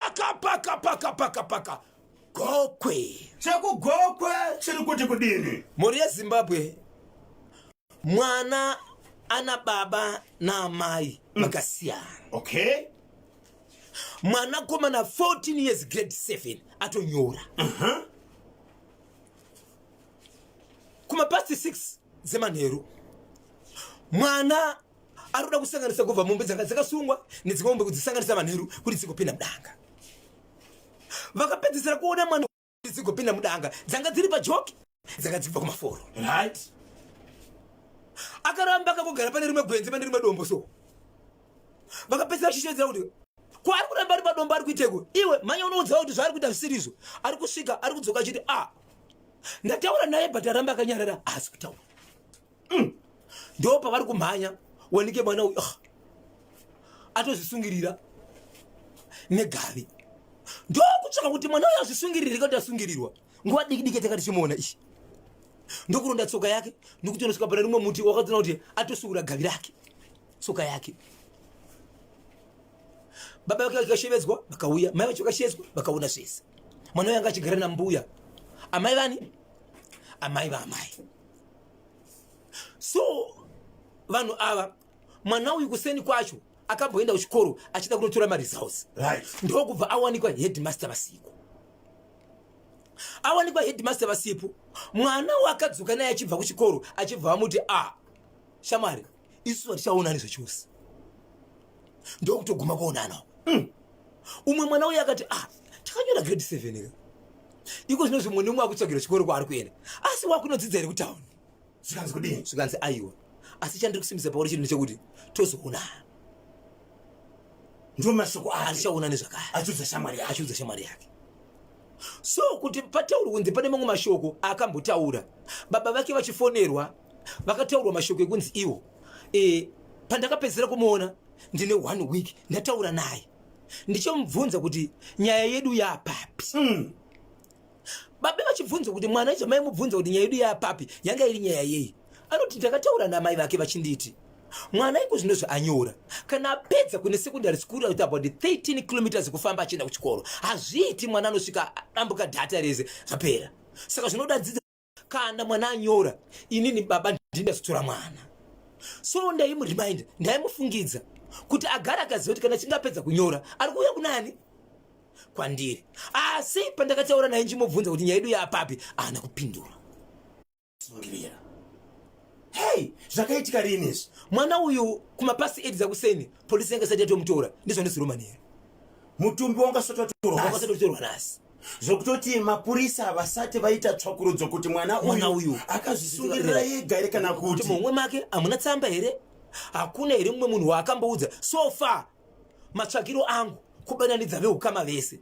Pakapaka pakapaka paka gokwe. Chekugokwe chiri kuti kudini? Mhuri yeZimbabwe mwana ana baba naamai mm. vakasiyana. Mm. Okay. Mwana komana 14 years grade 7 atonyora. Uh -huh. Kuma past 6 dzemanheru mwana ari kuda kusanganisa kubva mombe dzanga dzakasungwa nedzimwe mombe kudzisanganisa manheru kuti dzigopinda mudanga vakapedzisira kuona mwana kuti dzigopinda mudanga dzanga dziri pajoki dzanga dzibva kumaforo right akaramba akakogara pane rimwe gwenzi pane rimwe dombo so vakapedzisira vachishedzera kuti kwaari kuramba ari padombo ari kuiteko iwe manya unoudzawo kuti zvaari kuita zvisiri izvo ari kusvika ari kudzoka achiti a ah, ndataura naye but aramba akanyarara haasi kutaura mm. ndo pavari kumhanya wanike mwana uyu ah. atozvisungirira negavi ndo kutsvaka kuti mwana uyu azvisungirire kuti asungirirwa nguva diki diki tanga tichimuona ichi ndokuronda tsoka yake nokuti unosvika pana rimwe muti wakadzona kuti atosungura gavi rake tsoka yake baba vake vakashevedzwa vakauya mai vacho vakashevedzwa vakaona zvese mwana uyo anga achigara nambuya amai vani amai vaamai so vanhu ava mwana uyu kuseni kwacho akamboenda kuchikoro achida kunotora maresults right. ndokubva awanikwa headmaster vasipo awanikwa headmaster vasipo mwana wakadzoka naye achibva kuchikoro achibva vamuti a ah, shamwari isu vatichaonani zvachose ndokutoguma kuonana mm. umwe mwana uye akati ah takanyora grade seven ka iko zvino zvimwe nemwe akutsvagira chikoro kwaari kuenda asi wakunodzidza here kutown zvikanzi kudii zvikanzi aiwa asi chandiri kusimbisa pauri chinhu chekuti tozoonana ndo mashoko aarichaona nezvakare achiudza shamwari yake achiudza shamwari yake so kuti patauri kunzi pane mamwe mashoko akambotaura baba vake vachifonerwa vakataurwa mashoko ekunzi iwo e, pandakapedzisira kumuona ndine one week ndataura naye ndichomubvunza kuti nyaya yedu yapapi mm. babe vachibvunza kuti mwana icho maimubvunza kuti nyaya yedu yapapi yanga iri nyaya yei anoti ndakataura namai vake vachinditi mwana iko zvino zvaanyora kana apedza kune secondary school out about 13 kilometers kufamba achienda kuchikoro hazviiti mwana anosvika ambuka dhata rese zvapera saka zvinoda dzidza kana mwana anyora inini baba ndinasutura mwana so ndaimurimind ndaimufungidza kuti agara akaziva kuti kana chingapedza kunyora ari kuuya kunani kwandiri asi ah, pandakataura naye nchimubvunza kuti nyaya yedu yaapapi ahana kupindura sungirira hei zvakaitika rini izvi mwana uyu kumapasi edi dzakuseni polisi yanga isati yatomutora ndizvo ndisiromaniya mutumbi wanga sototorwa nasi zvokutoti mapurisa havasati vaita tsvakurudzo kuti mwana uyu akazvisungirira yega here kana kuti mumwe make hamuna tsamba here hakuna here mumwe munhu waakamboudza so far matsvakiro angu kubananidza veukama vese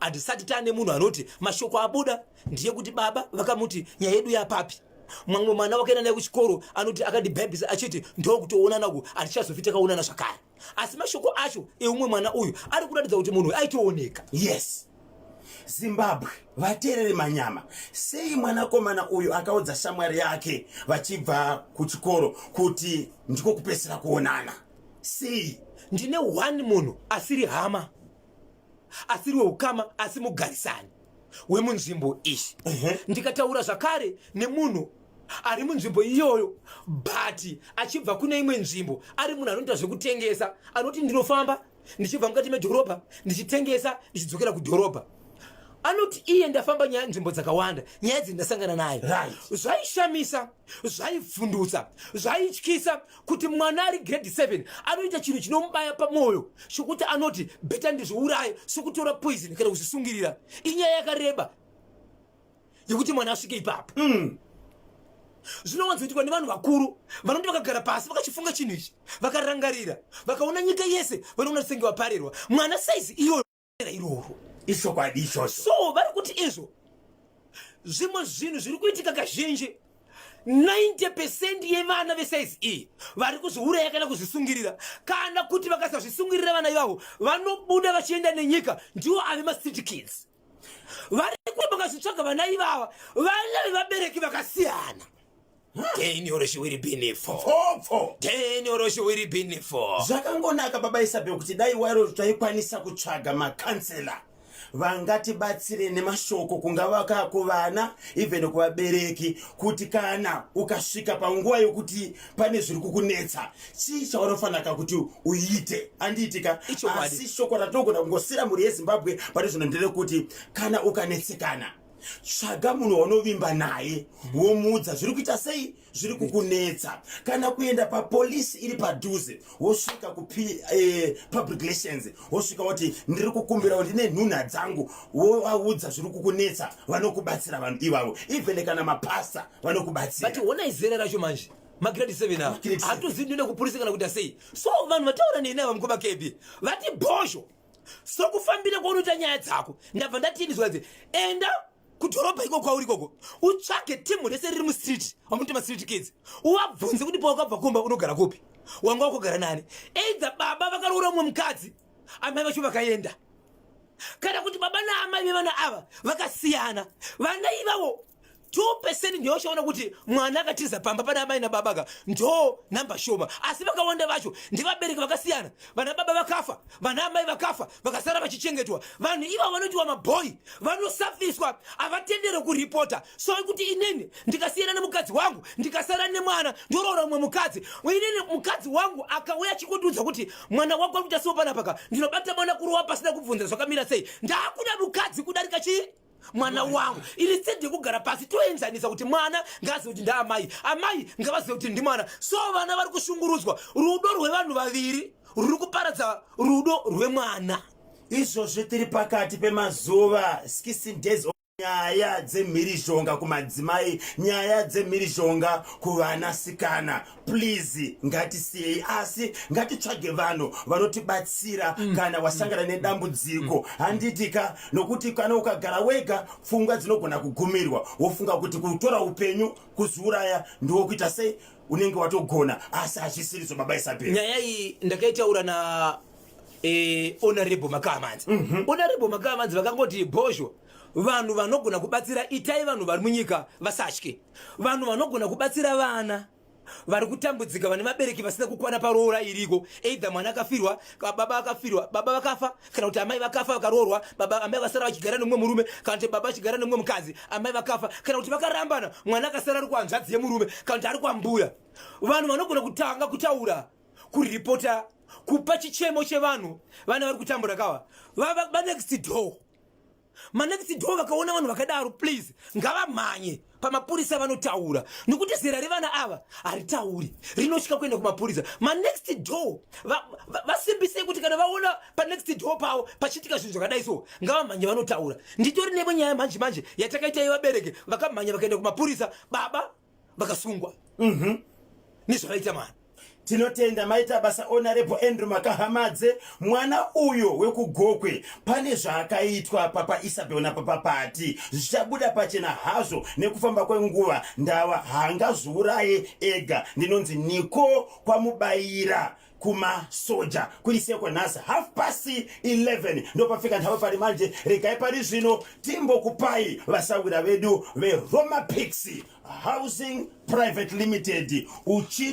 handisati taane munhu anoti mashoko abuda ndiye kuti baba vakamuti nyaya yedu yapapi mamwe mwana wakaenda naye kuchikoro anoti akandibhabhisa achiti ndokutoonana ku handichazofitakaonana zvakare asi mashoko acho eumwe mwana uyu ari kuratidza kuti munhu aitooneka yes zimbabwe vateerere manyama sei mwanakomana uyu akaudza shamwari yake vachibva kuchikoro kuti ndiko kupesera kuonana sei ndine one munhu asiri hama asiri weukama asi mugarisani wemunzvimbo ishi uh -huh. ndikataura zvakare nemunhu ari munzvimbo iyoyo but achibva kune imwe nzvimbo ari munhu anoita zvekutengesa anoti ndinofamba ndichibva mukati medhorobha ndichitengesa ndichidzokera kudhorobha anoti iye ndafamba nyaya nzvimbo dzakawanda nyaya dzi ndasangana nayo right. zvaishamisa zvaivhundutsa zvaityisa kuti mwana ari grade 7 anoita chinhu chinomubaya pamwoyo chokuti anoti beta ndizviuraye sokutora poison kana kuzvisungirira inyaya yakareba yekuti mwana asvike ipapo mm. zvinowanzoitwa nevanhu vakuru vanoti vakagara pasi vakachifunga chinhu ichi vakarangarira vakaona nyika yese vanoona senge vaparerwa mwana saizi iyoyo iroro ichokwadi ichocho so vari kuti izvo zvimwe zvinhu zviri kuitika kazhinji 90 pecent yevana vesaizi iyi vari kuzviuraya kana kuzvisungirira kana kuti vakasazvisungirira vana ivavo vanobuda vachienda nenyika ndiwo ave macity kids vari kuti vakazvitsvaga vana ivava vana vevabereki vakasiyana Deni oro shiwiri bini fo. Fo fo. Deni oro shiwiri bini fo. Zvakangonaka baba Isabel kuti dai wairo taikwanisa kutsvaga makansela vangatibatsire nemashoko kungava kakuvana even kuvabereki kuti kana ukasvika panguva yokuti pane zviri kukunetsa chii chaunofaniraka kuti uite andiitika asi shoko ratogona kungosira mhuri yezimbabwe pane zvino ndere kuti kana ukanetsekana tsvaga munhu waunovimba naye womuudza zviri kuita sei zviri kukunetsa kana kuenda papolisi iri padhuze wosvika kupublic eh, relations wosvika woti ndiri kukumbirawo ndine nhunha dzangu wovaudza zviri kukunetsa vanokubatsira vanhu ivavo even kana mapasta vanokubatsira but honai zera racho manje magrade 7 ava hatozivi ndine kupurisa kana kuita sei so vanhu vataura neni ava mukoma kebi vati bhozho sokufambira kwaunoita nyaya dzako ndabva ndatiinizwa dze enda kudhorobha iko kwauri koko utsvage timu rese riri mustreet wamuti mastreet kids uwabvunze kuti pawakabva kumba unogara kupi wanga wakugara nani eidza baba vakaroora umwe mukadzi amai vacho vakaenda kana kuti baba naamai vevana ava vakasiyana vana ivavo 2 percent ndiyo chaona kuti mwana akatiza pamba pana amai nababa ka ndo namba shoma asi vakawanda vacho ndivabereki vakasiyana vana baba vakafa vana amai vakafa vakasara vachichengetwa vanhu iva vanotiwa mabhoyi vanosafiswa havatendere kuripota so kuti inini ndikasiyana nemukadzi wangu ndikasara nemwana ndoroora umwe mukadzi inini mukadzi wangu akauya achikundiudza kuti mwana wako ari kuita sio panapa ka ndinobata mwana kurowa pasina kubvunza zvakamira sei ndakuda mukadzi kudarika chii mwana wangu iri tsedi yekugara pasi toenzanisa kuti mwana ngaazive kuti ndaamai amai ngavazive kuti ndimwana so vana vari kushungurudzwa rudo rwevanhu vaviri ruri kuparadza rudo rwemwana izvozvi tiri pakati pemazuva skissin days nyaya dzemhirizhonga kumadzimai nyaya dzemhirizhonga kuvanasikana please ngatisiyei asi ngatitsvage vanhu vanotibatsira mm. kana wasangana mm. nedambudziko mm. handiti ka nokuti kana ukagara wega pfungwa dzinogona kugumirwa wofunga kuti kutora upenyu kuziuraya ndiwo kuita sei unenge watogona asi hazvisiri zvobaba isabel nyaya iyi ndakaitaura na eh, honorable makamanzi mm -hmm. honorable makamanzi vakangoti bhozho vanhu vanogona kubatsira itai vanhu vari munyika vasatye vanhu vanogona kubatsira vana vari kutambudzika vane vabereki vasina kukwana paroora iriko either mwana akafirwa baba akafirwa baba vakafa kana kuti amai vakafa vakaroorwa baba amai vasara vachigara nemumwe murume kana kuti baba vachigara nemumwe mukadzi amai vakafa kana kuti vakarambana mwana akasara ari kuhanzvadzi yemurume kana kuti ari kwambuya vanhu vanogona kutanga kutaura kuripota kupa chichemo chevanhu vana vari kutambura kawa vava banext door Manext door vakaona vanhu vakadaro please ngavamhanye pamapurisa vanotaura nokuti zera revana ava haritauri rinosvika kuenda kumapurisa manext door vasimbisei va, va kuti kana vaona panext door pavo pachiitika zvinhu zvakadai so ngavamhanye vanotaura nditori nevo nyaya manje manje yatakaita yevabereki vakamhanya vakaenda kumapurisa baba vakasungwa mhm. nezvavaita mwana tinotenda maita basa onarepo andrew makahamadze mwana uyo wekugokwe pane zvaakaitwa papa isabel napapa pati zvichabuda pachena hazvo nekufamba kwenguva ndava haangazviuraye ega ndinonzi niko kwamubayira kuma soja kuri sekwa nhasi half past 11 ndopafika nhava pari manje regai pari zvino timbokupai vasawira vedu veroma pix housing private limited uchi